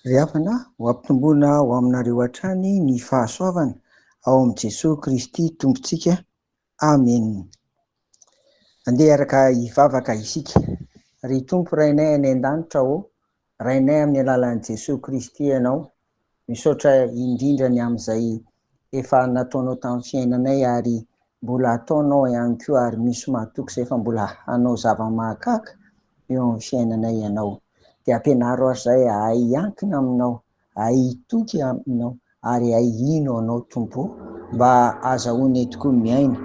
Ry havana, ho ampitomboina ho aminareo hatrany ny fahasoavana ao amin'i Jesoa Kristy Tompontsika. Amena. Andeha hiaraka hivavaka isika. Ry Tompo Rainay any An-danitra ô, Rainay amin'ny alalan'i Jesoa Kristy Ianao, misaotra indrindra ny amin'izay efa nataonao tamin'ny fiainanay ary mbola ataonao ihany koa ary misy mahatoky izay fa mbola hanao zava-mahagaga eo amin'ny fiainanay Ianao. Dia ampianaro aho izay hahay hiankina Aminao Hay hitoky Aminao ary hay hino Anao Tompo o! Mba azahoanay tokoa miaina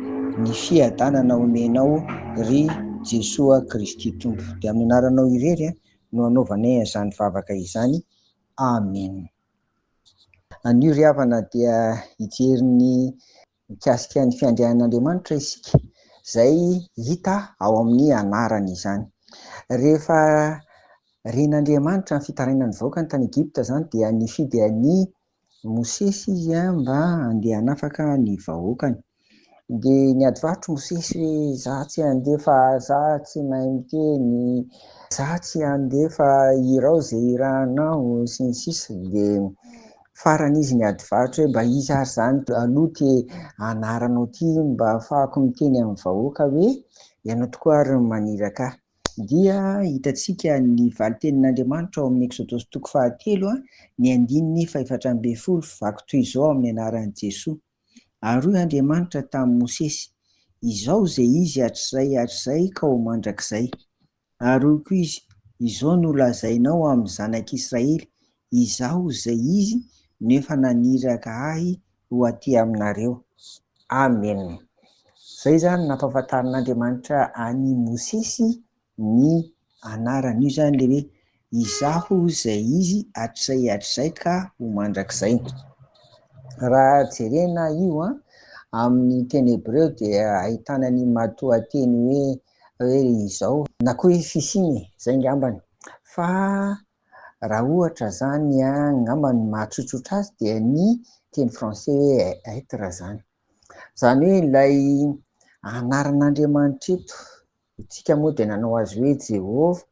ny fiadanana omenao ry Jesoa Kristy Tompo. Dia amin'ny anaranao irery no anaovanay an'izany vavaka izany. Amen. Anio ry havana dia hijery ny mikasika ny fiandrianan'Andriamanitra isika, izay hita ao amin'ny anarany izany. Rehefa ren'Andriamanitra ny fitarainan'ny vahoakany tany Egypta izany dia nifidy an'i Mosesy izy mba handeha hanafaka ny vahoakany. Dia niadivarotra Mosesy hoe za tsy handeha fa za tsy mahay miteny, za tsy handeha fa irao izay irahanao sy ny sisa. Dia Farany izy niady varotra hoe mba iza ary zany aloha ty anaranao ty mba afahako miteny amin'ny vahoaka hoe ianao tokoa ary no maniraka ahy. Dia hitantsika ny valin-tenin'Andriamanitra ao amin'ny Eksodosy toko fahatelo, ny andininy fahefatra ambin'ny folo, vaky toy izao amin'ny anaran'i Jesoa, Ary hoy Andriamanitra tamin'i Mosesy, Izao izay izy hatrizay hatrizay ka ho mandrakizay. Ary hoy koa izy, Izao no lazainao amin'ny zanak'Israely, Izaho izay izy no efa naniraka ahy ho aty aminareo. Amena. Izay izany nampahafantarin'Andriamanitra an'i Mosesy ny anarany. Io izany ilay hoe Izaho izay izy hatrizay hatrizay ka ho mandrakizay. Raha jerena io an, amin'ny teny hebreo dia ahitana ny matoanteny hoe hoe izao, na koa hoe fisiany e, izay ngambany. Fa raha ohatra izany an, ngamba ny mahatsotsotra azy dia ny teny français hoe être izany. Izany hoe ilay anaran'Andriamanitra eto. Isika moa dia nanao azy hoe Jehovah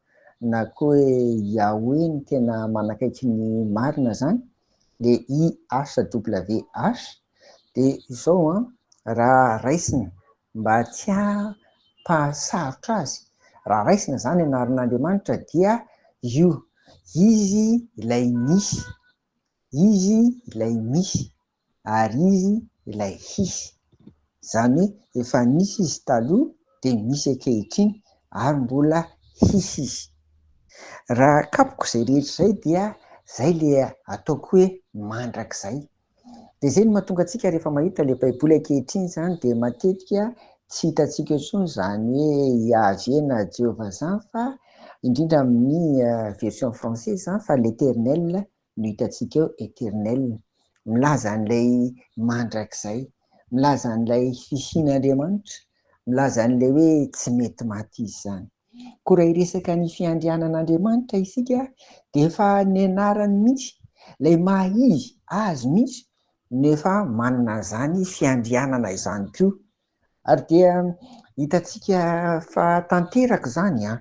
na koa hoe Yahweh ny tena manakaiky ny marina zany, le YHWH, de izao an, raha raisina mba tsy hampahasarotra azy, raha raisina zany anaran'Andriamanitra dia io, Izy ilay misy, Izy ilay misy. ary izy ilay hisy, izany hoe efa nisy izy taloha dia misy ankehitriny ary mbola hisy izy. Raha akapoko izay rehetra izay dia izay ilay ataoko hoe mandrakizay. Dia izay no mahatonga antsika rehefa mahita ilay baiboly ankehitriny izany dia matetika tsy hitantsika eo intsony izany hoe Yaveh na Jehovah izany fa indrindra amin'ny version française izany fa l'Eternel no hitantsika eo eternel, milaza an'ilay mandrakizay, milaza an'ilay fisian'Andriamanitra, milaza an'ilay hoe tsy mety maty izy izany. Koa raha hiresaka ny fiandrianan'Andriamanitra isika dia efa ny anarany mihitsy, ilay maha izy azy mihitsy no efa manana an'izany fiandrianana izany koa. Ary dia hitantsika fa tanteraka izany an!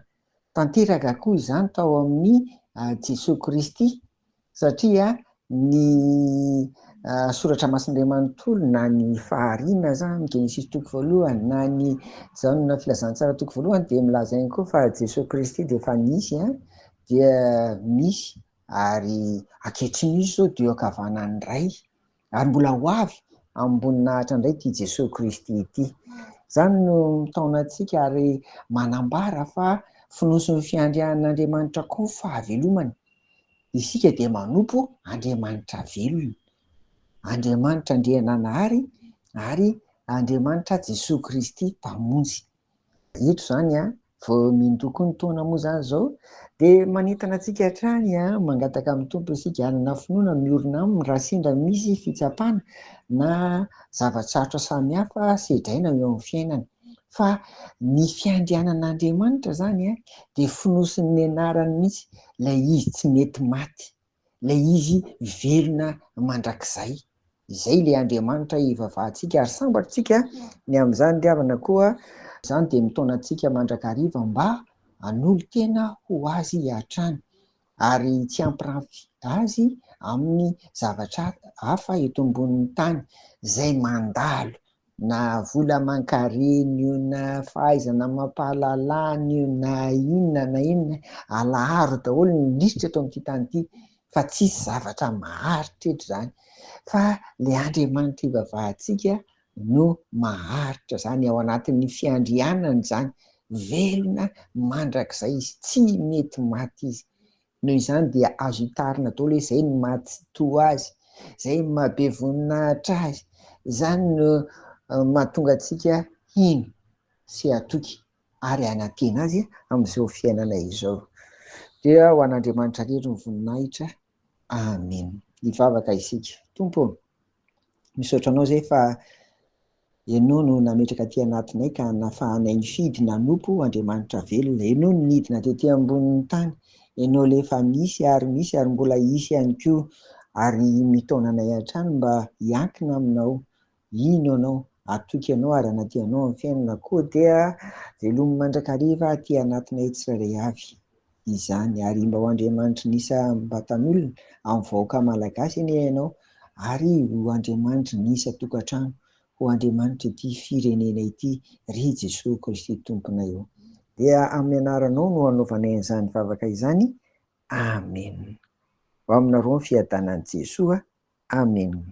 Tanteraka koa izany tao amin'i Jesoa Kristy satria ny Soratra Masin'Andriamanitra manontolo na ny Fahariana aza, ny Genesisy toko voalohany na ny Jaona Filazantsara toko voalohany dia milaza ihany koa fa Jesoa Kristy dia efa nisy an, dia misy ary ankehitriny misy izao dia eo ankavanan'ny Ray. Ary mbola ho avy amim-boninahitra indray ity Jesoa Kristy ity. Izany no mitaona antsika ary manambara fa fonosin'ny fiandrian'Andriamanitra koa ny fahavelomana. Isika dia manompo Andriamanitra velona. Andriamanitra Andriananahary ary Andriamanitra Jesoa Kristy Mpamonjy. Eto izany a, vao mindoko ny taona moa izany izao dia manentana antsika hatrany a, mangataka amin'ny Tompo isika hanana finoana miorina aminy raha sendra misy fitsapana na zava-tsarotra samihafa sedraina eo amin'ny fiainana. Fa ny fiandrianan'Andriamanitra izany a, dia fonosin'ny anarany mihitsy ilay izy tsy mety maty. ilay izy velona mandrakizay. Izay ilay Andriamanitra hivavahantsika ary sambatr'tsika ny amin'izany ry havana koa izany dia mitaona antsika mandrakariva mba hanolo-tena ho Azy hatrany ary tsy hampirafy Azy amin'ny zavatra hafa eto ambonin'ny tany izay mandalo na vola aman-kareny io na fahaizana amam-pahalalana io na inona na inona, alaharo daholo ny lisitra eto amin'ity tany ity fa tsisy zavatra maharitra eto izany fa ilay Andriamanitra ivavahantsika no maharitra izany ao anatin'ny fiandrianany izany, velona mandrakizay izy, tsy mety maty izy. Noho izany dia azo hitarina daholo hoe zay no maha tsitoha azy, zay no maha be voninahitra azy, izany no mahatonga antsika hino sy hatoky ary hanantena azy amin'izao fiainana izao. Dia ho an'Andriamanitra rery ny voninahitra. Amen. Hivavaka isika. Tompo ô! Misaotra anao zay fa ianao no nametraka aty anatinay ka nafahanay nifidy nanompo Andriamanitra velona. Ianao no nidina tety ambonin'ny tany. Ianao ilay efa nisy ary misy ary mbola hisy ihany koa ary mitaona anay hatrany mba hiankina aminao, hino anao, hatoky anao ary hanadio anao amin'ny fiainana. Koa dia velomy mandrakariva aty anatinay tsirairay avy. izany ary mba ho Andriamanitry ny isam-batan'olona, amin'ny vahoaka malagasy anie ianao, ary ho Andriamanitry ny isan-tokantrano, ho Andriamanitr'ity firenena ity, ry Jesoa Kristy Tomponay ô. Dia amin'ny anaranao no anaovanay an'izany vavaka izany. Amena. Ho aminareo ny fiadanan'i Jesoa. Amen.